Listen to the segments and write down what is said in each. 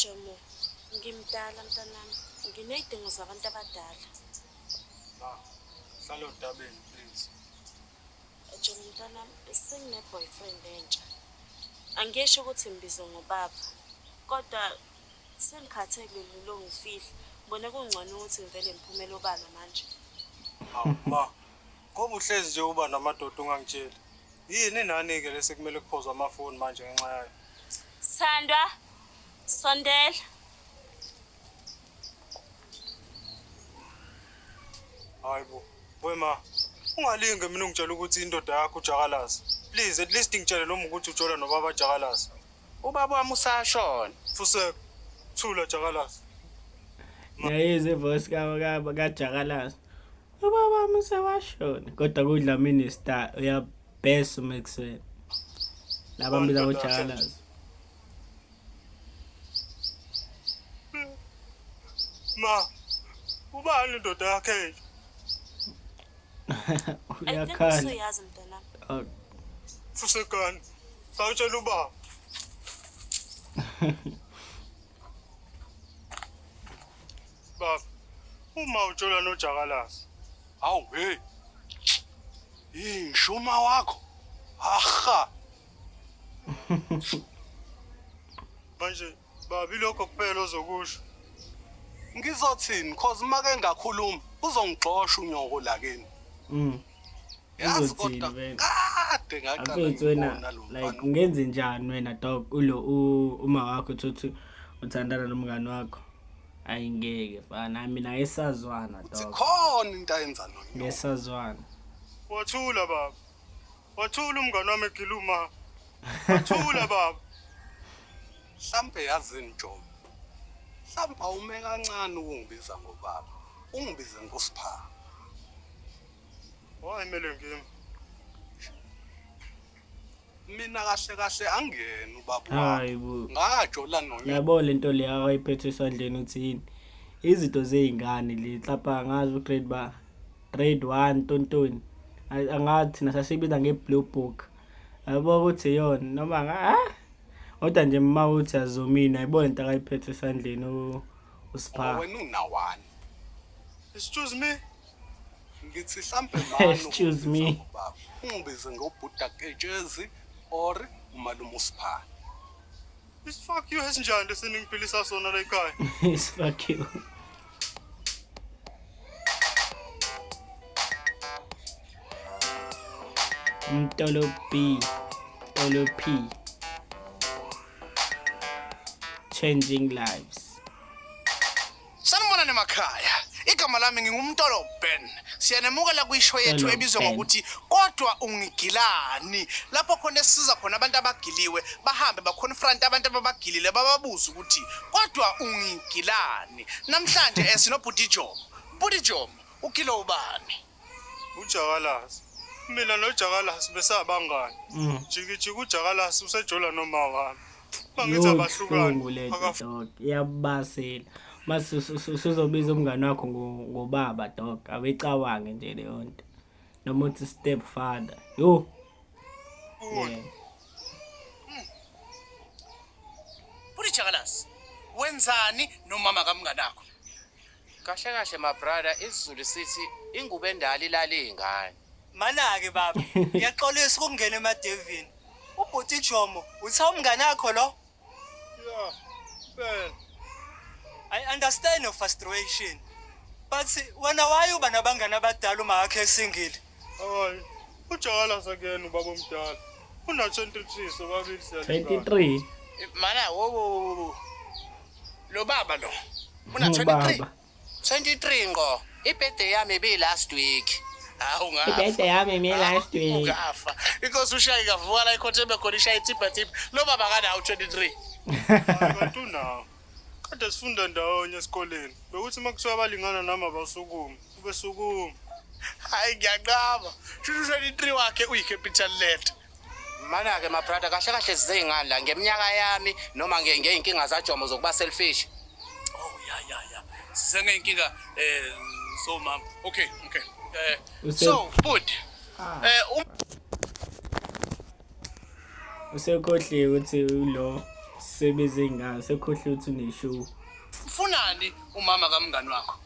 Jomo, ngimdala mntanami, nginey'dingo zabantu abadala. Ma, hlale odabeni please. Jomo mntanami, sengine-boyfriend entsha. Angisho ukuthi ngibize ngobaba, kodwa sengikhathele lula ongifihla. Ngibone kungcono ukuthi ngivele ngiphumele obala manje. Hawu ma, Ngoba uhlezi nje uba namadoda ungangitsheli. Yini nani ke lesi kumele kuphozwa amafoni manje ngenxa yayo. Sandwa sondela. Hayibo. Wema ungalinge mina ungitshela ukuthi indoda yakho ujakalazi. Please at least ngitshele noma ukuthi ujola nobaba jakalazi. Ubaba wami usashona. Fuseka. Thula jakalazi. Ngiyayizwa ivoice ka ka kajakalazi. ubaba muse washona kodwa kudla minister uyabhesa uma ekuseni laba mbiza ngojakalazi ma ubani indoda yakhe uyakhala oh. fusekani sawutshela ubaba Baba, uma utshola nojakalazi. Hawu hey. Yinshuma wakho. Aha. Manje babi lokho kuphela ozokusho. Ngizothini cause uma ke ngakhuluma uzongixosha unyoko la kini. Mm. Yazi kodwa kade ngaqala like ungenze njani wena dog ulo uma wakho uthi uthanda nomngani wakho. Ayi ngeke fana mina ngesazwana dog. Sikhona into ayenza no. Ngesazwana. Wathula baba. Wathula umngane wami egiluma. Wathula baba. Hlampe yazi njomo. Hlampe awume kancane ukungibiza ngobaba. Ungibize ngosipha. Wayimele ngimi. mina kahle kahle angiyena ubaba hayi bo ngajola nonyoko yabo lento le akayiphethe esandleni uthini izinto zezingane le hlapha ngazi ugrade ba grade 1 tontoni angathi thina sasibiza ngeblue book yabo ukuthi yona noma nga ah kodwa nje mma uthi azomina yabo lento akayiphethe esandleni usipha wena unawani excuse me ngithi hlampe excuse me ungibize ngobhuda ketshezi or umalume usiphana This fuck you esinjani lesi ningiphilisa sona la ekhaya is fuck you Mtolo B Mtolo P Changing Lives Sanibonani emakhaya. Igama lami ngingumntolo Ben. Siyanemukela kwisho yethu Mtolo ebizwa Ben. ngokuthi kodwa ungigilani. Lapho khona esiza khona abantu abagiliwe bahambe baconfront abantu ababagilile bababuze ukuthi kodwa ungigilani. Namhlanje eh, sinobhuti Jomo. Bhuti Jomo, ugile ubani? uJakalasi. Mina noJakalasi besabangani. Mm. Jikijiki uJakalasi usejola noma wami. Mangithi abahlukani. Iyabasela. Mase usuzobiza umngane wakho ngobaba dog. Abecawange nje leyo nto. Noma uthi step father. Yo. Yeah. Buri Jakalasi. Wenzani nomama kamnganakho? Kahle kahle my brother isiZulu sithi ingubo endala ilala iy'ngane. Manake baba, ngiyaxolisa ukungena emadevini. Ubhuti Jomo, uthe umngane wakho lo? Yeah, well, I understand your frustration. But wena why uba nabangane abadala uma wakhe esingile? hayi. Ujakalasa again ubaba omdala. Una-23 sobabili siyalingana. 23 Mana wo wo wo wo. Lo baba lo. Una 23. 23 ngo. Ibirthday yami bi last week. Hawu ngafa. Ibirthday yami mi last week. Ungafa. Inkosi ushayi kavuka la ikhothe bekhona ishayi tipha tipha. Lo baba kanawo 23. Abantu nawo. Kade sifunda ndawonye esikoleni. Bekuthi uma kuthiwa abalingana nami abasukume. Ubesukuma. Hayi ngiyaqaba. Shushu 23 wakhe uyi capital letter. Mana-ke mabrada kahle kahle zizey'ngani la ngeminyaka yami noma ngey'nkinga zajomo zokuba selfish oh ya ya ya sisengey'nkinga eh so mama okay okay eh so bud ah. eh um- usekhohliwe ukuthi ulo sebenze ngani sekhohliwe ukuthi uneshow ufunani umama kamngani wakho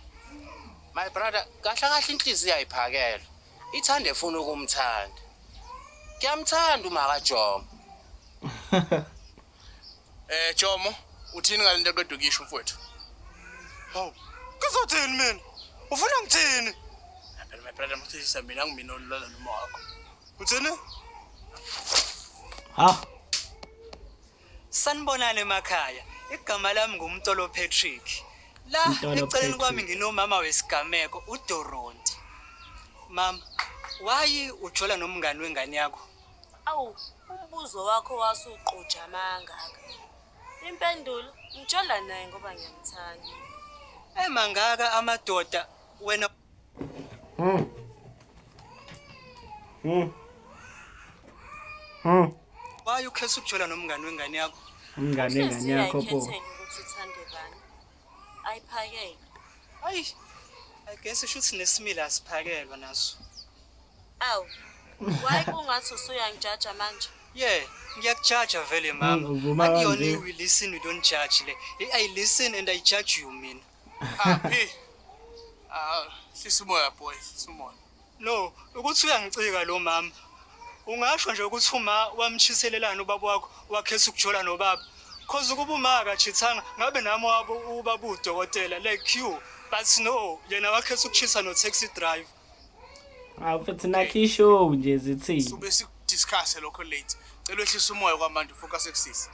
my brother kahle kahle inhliziyo ayiphakelwe ithande funa ukumthanda Ngiyamthanda umaka Jomo. Eh Jomo, uthini ngalento eqeda ukisho mfowethu? Hawu. Kuzothini mina? Ufuna ngithini? Phela my brother mthisa mina ngimina olala noma wakho. Uthini? Ha. Sanibonani emakhaya. Igama lami nguMtolo Patrick. La Mtolo eceleni Patrick. kwami nginomama wesigameko uDoronti. Mama, wayi ujola nomngani wengane yakho. Awu, umbuzo wakho wasuqoja amangaka. Impendulo, ngijola naye ngoba ngiyamthanda. Emangaka amadoda wena Hı. Hı. Hı. Why ukhetha ukujola nomngane wengane yakho? Umngane wengane yakho pho. Ukuthi uthande bani? Ayiphakele. Ayi. I guess isho ukuthi nesimila asiphakelwa naso. Awu. Why kungathi usuyangijaja manje? Yeah, ngiyakujaja vele mama. Akuyona i-we listen we don't judge le. I listen and I judge you mina. Ah, P. Ah, hlisa umoya boy, hlisa umoya. No, ukuthi uyangicika lo mama. Ungasho nje ukuthi uma wamtshiselelana ubaba wakho wakhesa ukujola nobaba. Cause ukuba uma akachithanga ngabe nami wabo ubaba udokotela like you. But no, yena wakhesa ukuchisa no taxi driver. Ah, futhi nakho ishow nje zithini. Sube sikudiscuss lokho late. Cela wehlisa umoya kwamanje focus ekusisi.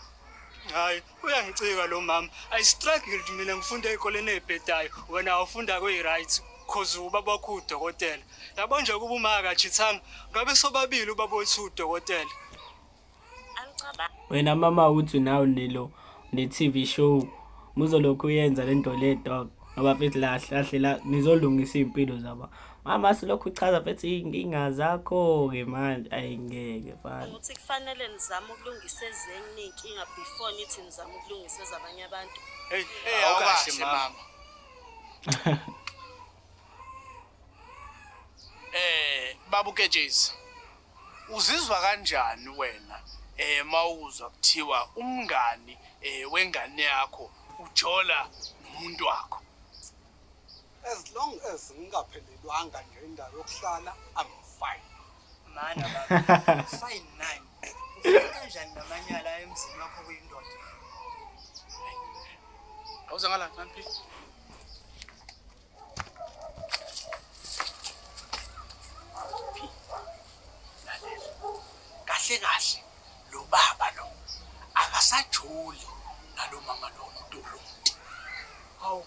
Hayi, uyangicika lo mama i struggled mina ngifunda ezikoleni ezibhedayo wena awufunda kweyi-right cause ubaba wakho udokotela yabo nje kuba uma akajithanga ngabe sobabili ubaba wethu udokotela wena mama uthi nawe nilo ne-tv show muzolokhu uyenza le nto le dog ngoba fithi lahle lahle la nizolungisa iy'mpilo zaba mama silokhu uchaza bethi iy'nkinga zakho-ke manje ayingeke fana ukuthi kufanele nizame ukulungisa ezinye iy'nkinga before nithi nizame ukulungisa ezabanye abantu awukahle mama eh babu kejezi uzizwa kanjani wena eh mawuzwa kuthiwa umngani eh wengane yakho ujola nomuntu wakho As long as ngingaphelelwanga nje indawo yokuhlala I'm fine. Mana baba. Fine nine. Ufike kanjani namanyala emzini wakho kuyindoda? Awuze ngala kanti. Kahle kahle lo baba lo akasajoli nalo mama lo umuntu lo. Hawu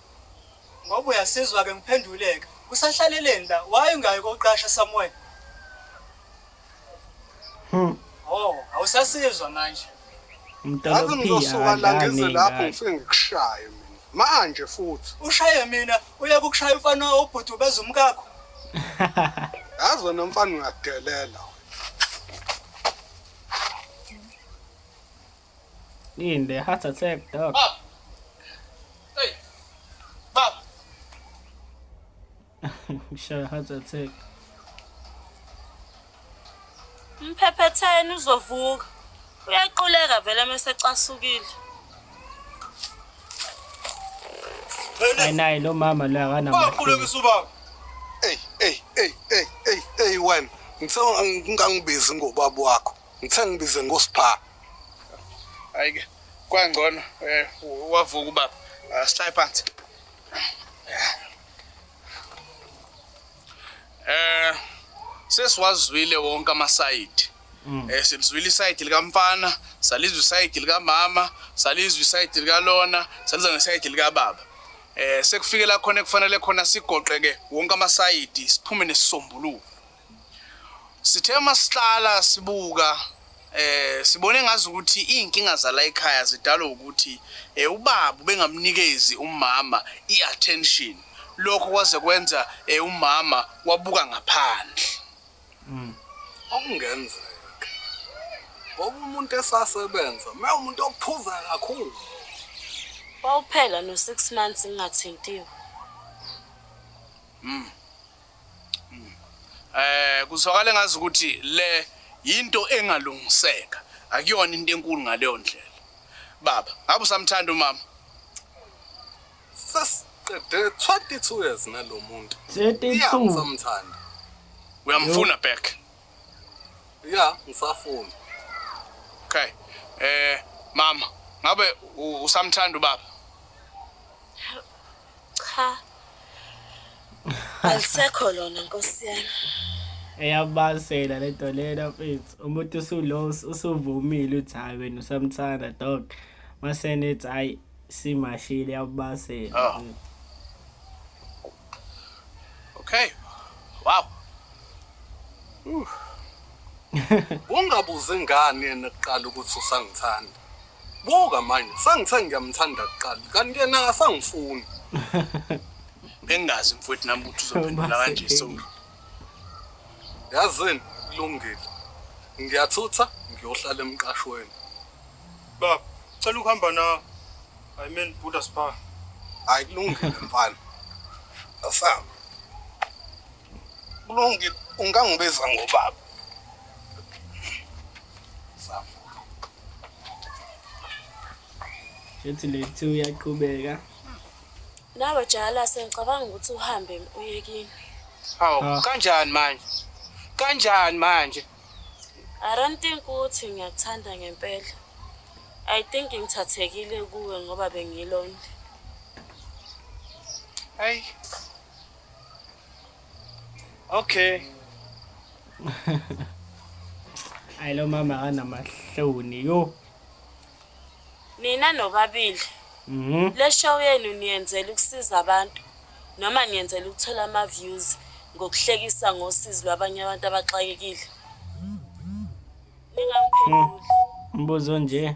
Ngoba uyasizwa ke ngiphenduleke. Usahlaleleni la? Why ungayi koqasha somewhere? Hmm. Oh, awusasizwa manje. Umntana Ngathi ophi ngizosuka la ngize akadlali lapho ngane. ngifike ngikushaye mina. Manje futhi. Ushaye mina, uye kukushaya umfana obhuti ubeza umkakho. Yazi wena mfana uyadelela. Hindi, heart attack, dog. Bab! Hey! Bab! Sure, heart attack. Mphephetheni uzovuka. Uyaquleka vele mesecasukile. Hayi naye lo mama lo akanamahloni. Waqulekisa ubaba. Ey, ey, ey, ey, ey, ey wena. Ngicela ngingangibizi ngobaba wakho. Ngithe ngibize ngoSpha. Ayike kwangcono eh wavuka ubaba. Ah, Sihlale phansi. Eh sesiwazwile wonke amasayidi. Eh silizwile isayidi likamfana, salizwa isayidi likamama, salizwa isayidi likalona, salizwa nesayidi likababa. Eh sekufike la khona ekufanele khona sigoqeke wonke amasayidi siphume nesisombuluko. sithe uma sihlala sibuka eh sibone ngazi ukuthi izinkinga zala ekhaya zidalwa ukuthi eh ubaba bengamnikezi umama iattention lokho kwaze kwenza eh umama wabuka ngaphandle mm. okungenzeka ngoba umuntu esasebenza uma umuntu ophuza kakhulu wawuphela no 6 months ngingathintiwe mm Eh kuzwakala ngazi ukuthi le yinto engalungiseka akuyona into enkulu ngaleyo ndlela baba ngabe usamthanda umama sasiqede 22 years nalomuntu 32 samthanda uyamfuna back ya ngisafuna okay eh mama ngabe usamthanda ubaba Cha. Alisekho lona nkosi yami. eyabasela lento lena mfethu umuntu usulo usuvumile uthi hayi wena usamthanda dog masenethi hayi simashile yabasela Ah. Okay. Wow. Ungabuzi ngani yena kuqala ukuthi usangithanda. Buka manje, sangithe ngiyamthanda kuqala, kanti yena akasangifuni. Bengazi mfowethu nami ukuthi uzophendula kanje Soli. Yazini, kulungile. Ngiyathutha ngiyohlala emqashweni. Baba, cela ukuhamba na. I mean Buddha Spa. Hayi kulungile mfana. Asam. Kulungile, ungangibiza ngobaba. ethi lethi uyaqhubeka nawe jala sengicabanga ukuthi uhambe uyekini hawu ah. kanjani manje kanjani manje i don't think ukuthi ngiyakuthanda ngempela i think ngithathekile kuwe ngoba bengilonde ayi Okay. Hayi lo mama akanamahloni yo. Nina nobabili. Mhm. Le show yenu niyenzela ukusiza abantu noma niyenzela ukuthola ama views ngokuhlekisa ngosizi lwabanye abantu abaxakekile. Ningaphenduli. Mbuzo nje.